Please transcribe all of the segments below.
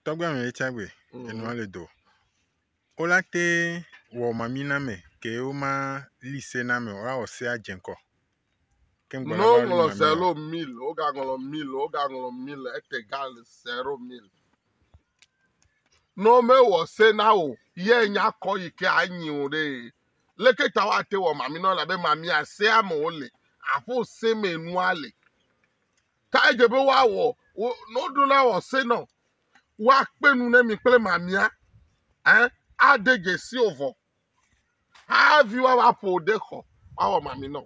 Tɔgbe ame ye tsagbe enua le do. Wo la te wɔ mami na me ke wo ma li se na me wa wɔ se adze ŋkɔ. Ke ŋgɔ la No wa li ŋlɔ mami na. zero mil, wo ga ŋlɔ mil, wo ga ŋlɔ mil, ete ga le zero mil. No me wɔ se na o, ye nya kɔ yi ke a nyi o ɖe. Leke ta wa te wɔ mami na wo la be mami a se ame wo le, a ƒo se me nua le. Ta edze be woawɔ wo ne woɖo la wɔ se nɔ woakpe nu ne mi kple mamia eh, ade dzesi o vɔ havi woava ƒo ɖe xɔ woawɔ mami nɔ.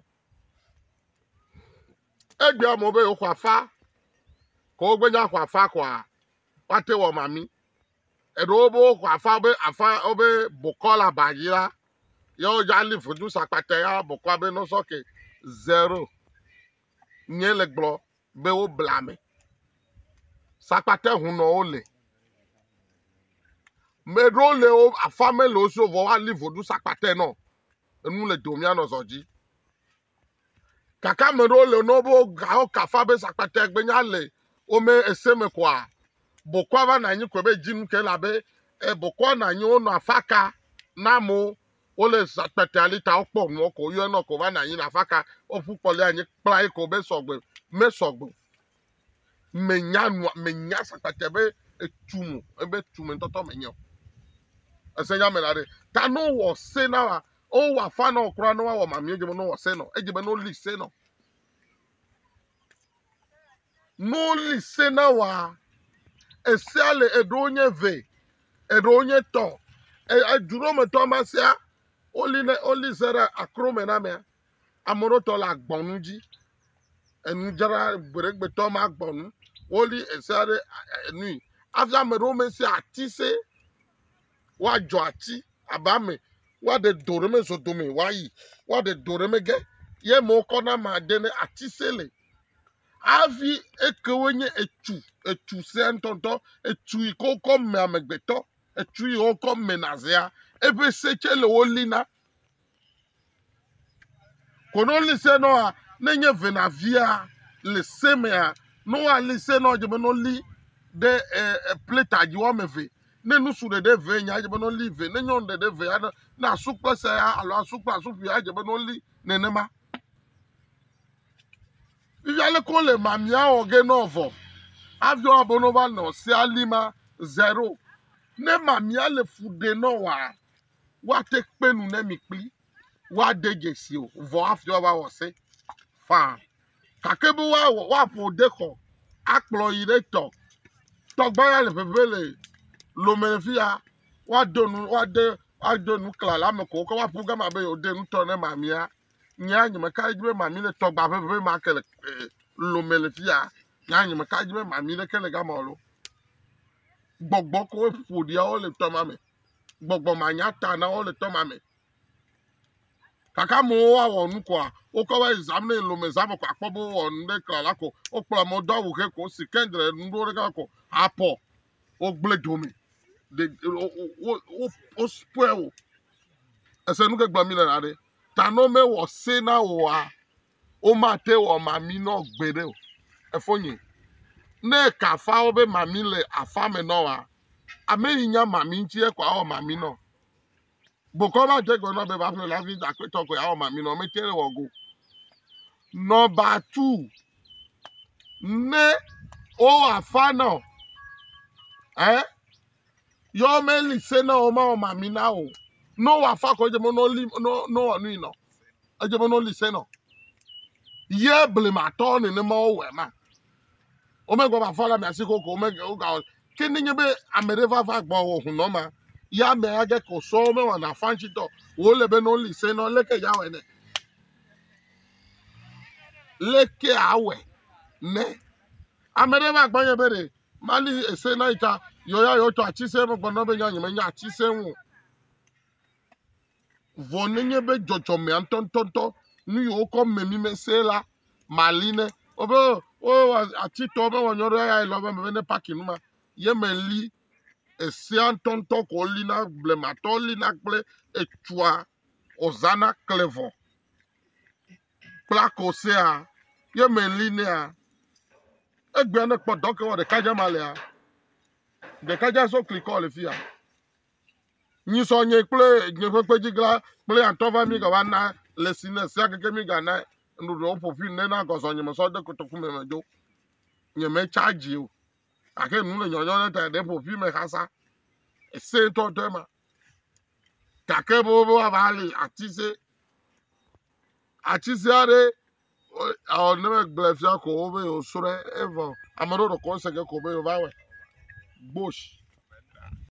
Egbe amewo be yewoxɔ afa ko wogbenya xɔ afa koa woate wɔ mami. Eɖewo be woxɔ afa be afa wobe bokɔ le aba dzi la yewo dza li vudu sakpata ya bokɔa be nɔsɔ ke zero. nye le gblɔ be wo bla me. Sakpate ho nɔ wo le. Me ɖewo le wo afa me le wo so vɔ woali voɖu sakpate nɔ. Enu le do mía nɔ zɔ dzi. Kaka me ɖewo le nɔ wo gawo kafa be sakpate gbe nya le wo me ese me koa. Bokɔa va na anyi koe be dzi nu ke la be e bokɔa na anyi wo nɔ afa ka na mo Wole zã kpɛtɛa li ta wokpɔ ŋuɔ ko yɔɛ nɔ ko va nanyi le afaka woƒu kpɔ li anyi kpla yi ko be sɔgbe me sɔgbe. Me nya nua me nya zã kpɛtɛ be etu mo ebe tu me ŋtɔtɔ me nyeo. Ese nya me la ɖe ta no wɔ se na wa o wa fa nɔ kura no wa wɔ mamie je me no wɔ se nɔ edje be no li se nɔ. Ne woli se na woa, esea le eɖewo nye ve, eɖewo nye tɔ. Edu ɖewo me tɔ ma sea, woli ne woli se ɖe akro me na mea, ame ɖewo tɔ le agbɔnu dzi. Enudzra gbeɖegbetɔ ma agbɔnu. Woli esea ɖe enui. Hafi ame ɖewo me sea ati se. Woadzɔ ati abe ame woaɖe do ɖe me zɔdome woayi, woaɖe do ɖe me ge. Ye amewo kɔ na ma de ne ati se le. Hafi ekewo nye etu, etu sẽe ŋutɔŋutɔ, etu yi ke wokɔ me amegbetɔ, etu yi wokɔ me nazea, eƒe se tsɛ le wo lina. Kono li se nɔa, ne nye venavia le se mea, ne woali se nɔ, edze be ne woli ɖe e e plɛta dzi woame eve. Ne nusu ɖeɖe ve nyea, edze be ne woli ve. Ne nyɔnu ɖeɖe ve aɖe, ne asu kple sea alo asu kple asuƒia edze be ne woli nenema. Ivialekon le mamiaɔ ge nɔ vɔ, aviɔ abono va nɔ sea lima zero. Ne mamia le fu ɖe nɔ wa, wa te kpe nu ne mi kpli wa de dzesi o, vɔ afiɔ va wɔ se faa. Kake be wa wɔ wa ƒo de xɔ akplɔ yi ɖe tɔ. Tɔgba ya le ƒeƒe le lome le fiya, wa do nu wa de wa do nu kla le ame ko ke wa ƒu gama be yo de nu tɔ ne mamia. Nyaa, nye meka ɖe edzi be mami le tɔgba ʋeʋẽ ma ke le eh, lome le fi ya. Nyaa, nye meka ɖe edzi be mami ɖeke le gama o lo. Gbɔgbɔ koe ƒoɖiawo le tɔ ma me. Gbɔgbɔ manya ta na wo le tɔ ma me. Kaka amewo woawɔ nu koa, wokɔ va yi zam ne lome zã me ko akpɔ be wowɔ nu ɖe kla la ko. Wokplɔ amewo do awu ʋe ko, si kendre nu ɖewo ɖeka ko, apɔ, wogblẽ dome. Ɖe- wo- wo- wo- wo- Wospoil wo. Ese nu ke gblɔ mi le la ɖe. ta nɔ me wɔ se na oa wo ma te wɔ mami nɔ gbe ɖe o efo nyi ne ka afa wo be mami le afa me nɔ wa ame yi nya mami ŋti ekɔ awɔ mami nɔ gbokɔ va dze gbe nɔ be va ƒle la vi dakpe tɔ ko awɔ mami nɔ me te wɔ go nɔ ba tu ne wo afa nɔ eh yɔ meli se na wo ma wɔma mi na o no wa fa ko dze mo no li no no wa nui no edze mo no li se no ye ble ma tɔ ne ne ma wo wɛ ma wo me gba fa la mi asi ko ko me o ga ke ne nye be ame ɖe va va gbɔ wo hu no ma ya me age ko so me wa na fa nchi tɔ wo le be no li se no le ke ya wɛ ne le ke awɛ ne ame ɖe va gbɔ nye be ɖe Mali ese na yi ta yewo ya yewo tɔ ati se megbe na be nya nyeme nya ati se ŋu. Vɔ nenye be dzɔdzɔme antɔntɔntɔ nu yewo kɔ me mi me se la mali ne wobe wo ati tɔ be wɔn nyɔɖe ya yi lɔ be me be ne paki nu ma ye me li esea ntɔntɔ ko li na blematɔ li na kple etsua ɔzana klevɔ. kpla kɔ sea ye meli nɛa egbea ne kpɔ dɔke wɔ ɖeka dza ma lea ɖeka dza sɔ kli kɔ le fia nyi sɔ nye kple nye ƒe kpedzigla kple atɔ va mi gava na le si ne sia keke mi ga na nuɖuɖu wo ƒoƒu ne na gɔzɔ nye me sɔ de kotoku me me do nye me charge o ake nu le nyɔnyɔ ne ta ɖe ƒoƒu me xasa ese tɔ tɔ ma gake bobobo ava li ati se ati se aɖe ɔ ne megblẽ fia ko wobe wosrɔ̃e evɔ ame aɖewo ɖe kɔnse ge ko wobe wova wɔe bush.